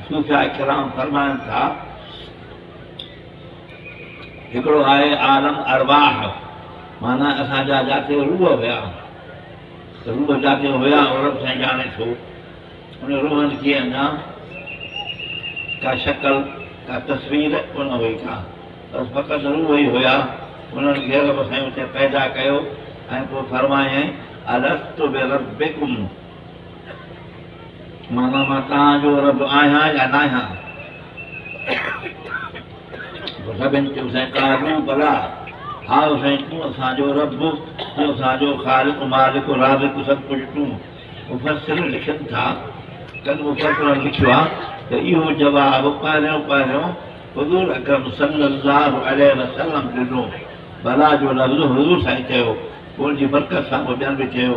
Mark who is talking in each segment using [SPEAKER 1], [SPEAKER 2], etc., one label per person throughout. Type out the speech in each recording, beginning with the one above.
[SPEAKER 1] صوفياء ڪرام فرمائن ٿا، هڪڙو آهي عالم ارواح معنيٰ اسان جا جاٿي روح هيا، روح جاٿي هيا اهو رب سائين ڄاڻي ٿو، ان روحن کي اڃا ڪا شڪل ڪا تصوير ڪونه هئي ڪا، بس فقط روح ئي هيا، انهن کي رب سائين اتي پيدا ڪيو ۽ پوء فرمايائين الست بربڪم معنيٰ مان توهان جو رب آهيان يا ناهيان؟ پوء سڀني چيو سائين قالوا بلٰي هائو سائين تون اسان جو رب تون اسان جو خالق مالڪ رازق سڀ ڪجهه تون مفسر لکن ٿا ڪن مفسرن لکيو آهي ته اهو جواب پهريون پهريون حضور اڪرم صلي الله عليه وسلم ڏنو بلٰي جو لفظ حضور سائين چيو پوء ان جي برڪت سان پوء ٻين به چيو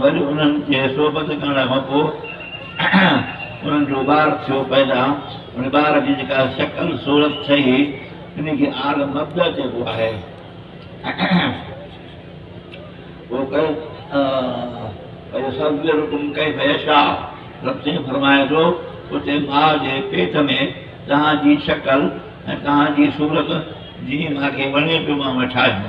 [SPEAKER 1] وري انهن کي صحبت ڪرڻ کان پوء انهن جو ٻار ٿيو پيدا. ان ٻار جي جيڪا شڪل صورت ٺهي، انهي کي آل مبدا چئبو آهي. پوء ويصورڪم ڪيف يشاء، رب سائين فرمائي ٿو، اتي ماء جي پيٽ ۾ توهان جي شڪل ۽ توهان جي صورت جيئن مون کي وڻي پيو مانء ٺاهيو.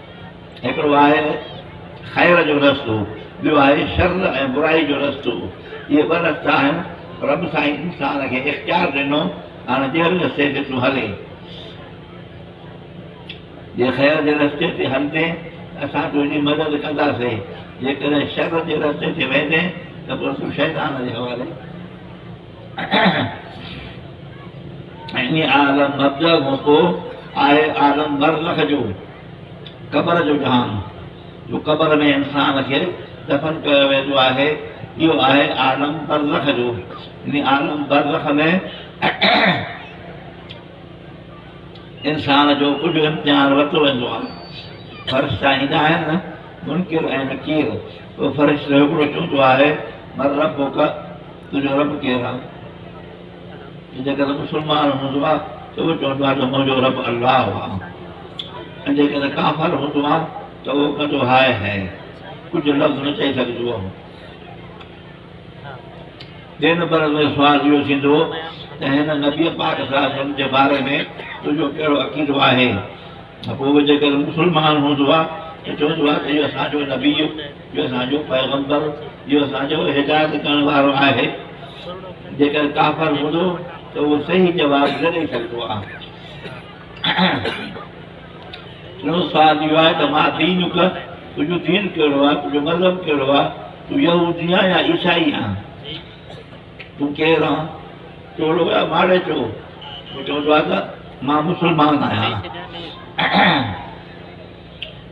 [SPEAKER 1] هڪڙو آهي خير جو رستو، ٻيو آهي شر ۽ برائي جو رستو. اهي ٻه رستا آهن، رب سائين انسان کي اختيار ڏنو، هاڻ جهڙي رستي تي تون هلين. جي خير جي رستي تي هلندين ته اسان تنهنجي مدد ڪنداسين، جيڪڏهن شر جي رستي تي ويندين ته پوء تون شيطان جي حوالي. ائين عالم مبدا کان پوء آهي عالم برزخ جو قبر جو جهان جو قبر ۾ انسان کي دفن ڪيو ويندو آهي اهو آهي عالم برزخ جو ان عالم برزخ ۾ انسان جو ڪجهه امتحان ورتو ويندو آهي فرشتا ايندا آهن نه منڪر ۽ نڪير فرشتو هڪڙو چوندو آهي مربو ڪا تنهنجو رب ڪير آ؟ ۽ جيڪڏهن مسلمان هوندو آ ته اهو چوندو آ ته منهنجو رب الله آ ۽ جيڪڏهن ڪافر هوندو آ ته اهو ڪندو هاء هيء ڪجهه لفظ نه چئي سگهجو اهو ٻئي نمبر ۾ سوال اهو ٿيندو ته هن نبي پاڪ صلي الله عليه وسلم جي باري ۾ تنهنجو ڪهڙو عقيدو آهي؟ ته پوء جيڪر مسلمان هوندو ها ته چوندو ها ته اهو اسان جو نبي، اهو اسان جو پيغمبر، اهو اسان جو هدايت ڪرڻ وارو آهي. جيڪر ڪافر هوندو ته اهو صحيح جواب نه ڏئي سگهندو ها. ٽيون سوال اهو آهي ته ما دينک، تنهنجو دين ڪهڙو آهي، تنهنجو مذهب ڪهڙو آهي، تون يهودي آهين يا عيسائي آهين؟ تون ڪير آن؟ چولو يا مارئي چو؟ هو چوندو آهي ته مان مسلمان آهيان.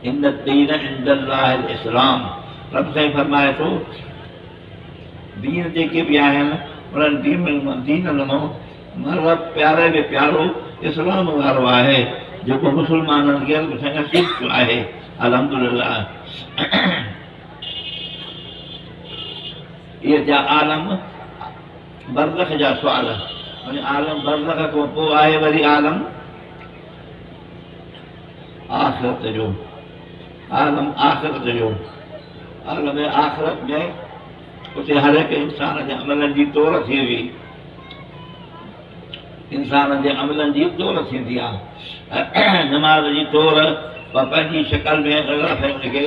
[SPEAKER 1] ان الدين عند الله الاسلام رب سائين فرمائي ٿو دين جيڪي به آهن انهن دين ڏنو مذهب پياري ۾ پيارو اسلام وارو آهي جيڪو مسلمانن کي رب سائين نصيب ٿيو آهي الحمدلله اهي ٿيا عالم برزخ جا سوال. يعني عالم برزخ کان پوء آهي وري عالم آخرت جو. عالم آخرت جو. عالم آخرت ۾ اتي هر هڪ انسان جي عملن جي تور ٿيندي. انسان جي عملن جي تور ٿيندي آهي. نماز جي تور پنهنجي شڪل ۾ ان کي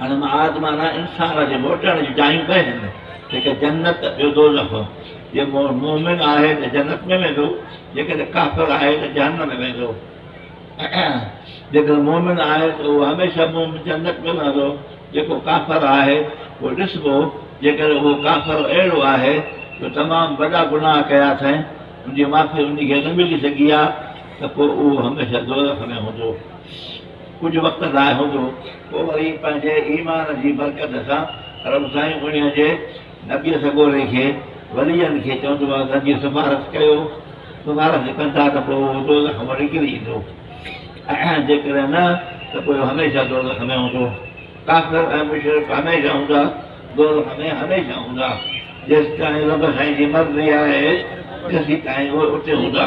[SPEAKER 1] هاڻي معاد معنيٰ انسان جي موٽڻ جون جايون ٻه آهن، هڪ جنت ٻيو دوزخ. جي مؤمن آهي ته جنت ۾ ويندو، جيڪڏهن ڪافر آهي ته جهنم ۾ ويندو. جيڪڏهن مؤمن آهي ته اهو هميشه مؤمن جنت ۾ رهندو، جيڪو ڪافر آهي پوء ڏسبو، جيڪڏهن اهو ڪافر اهڙو آهي جو تمام وڏا گناهه ڪيا اٿئي، ان جي معافي ان کي نه ملي سگهي آهي ته پوء اهو هميشه دوزخ ۾ هوندو. ڪجهه وقت لاء هوندو، پوء وري پنهنجي ايمان جي برڪت سان رب سائين انهيء جي نبيء سڳوري کي، وليّن کي، چوندو آهي ته جي سفارش ڪيو، سفارش ڪندا ته پوء هو دوزخ مان نڪري ايندو ۽ جيڪڏهن نه ته پوء هميشه دوزخ ۾ هوندو. ڪافر ۽ مشرڪ هميشه هوندا، دوزخ ۾ هميشه هوندا. جيستائين رب سائين جي مرضي آهي، تيسيتائين اهي اتي هوندا.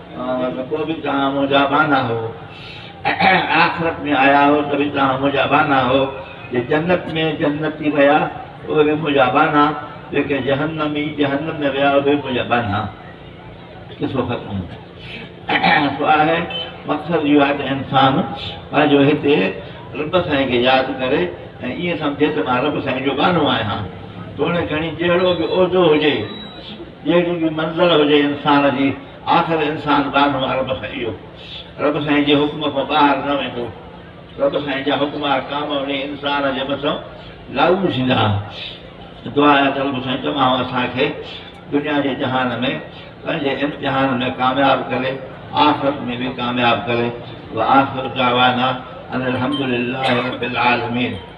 [SPEAKER 1] ته پوء به توهان منهنجا ٻانها هئو ۽ آخرت ۾ آيا هئو ته به توهان منهنجا ٻانها هئو، جي جنت ۾ جنتي ويا اهي به منهنجا ٻانها، جيڪي جهنمي جهنم ۾ ويا اهي به منهنجا ٻانها. قصو ختم. سو آهي مقصد اهو آهي ته انسان پنهنجو هتي رب سائين کي ياد ڪري ۽ ائين سمجهي ته مان رب سائين جو ٻانهو آهيان. توڻي کڻي جهڙو به عهدو هجي جهڙي به منزل هجي انسان جي، آخر انسان ٻانهو آ رب سان اهو، رب سائين جي حڪم کان ٻاهر نه ويندو، رب سائين جا حڪم احڪام انهي انسان جي مٿان لاڳو ٿيندا. دعا اها ته رب سائين تمام اسان کي دنيا جي جهان ۾ پنهنجي امتحان ۾ ڪامياب ڪري، آخرت ۾ به ڪامياب ڪري. واخر دعوانا ان الحمدلله رب العالمين.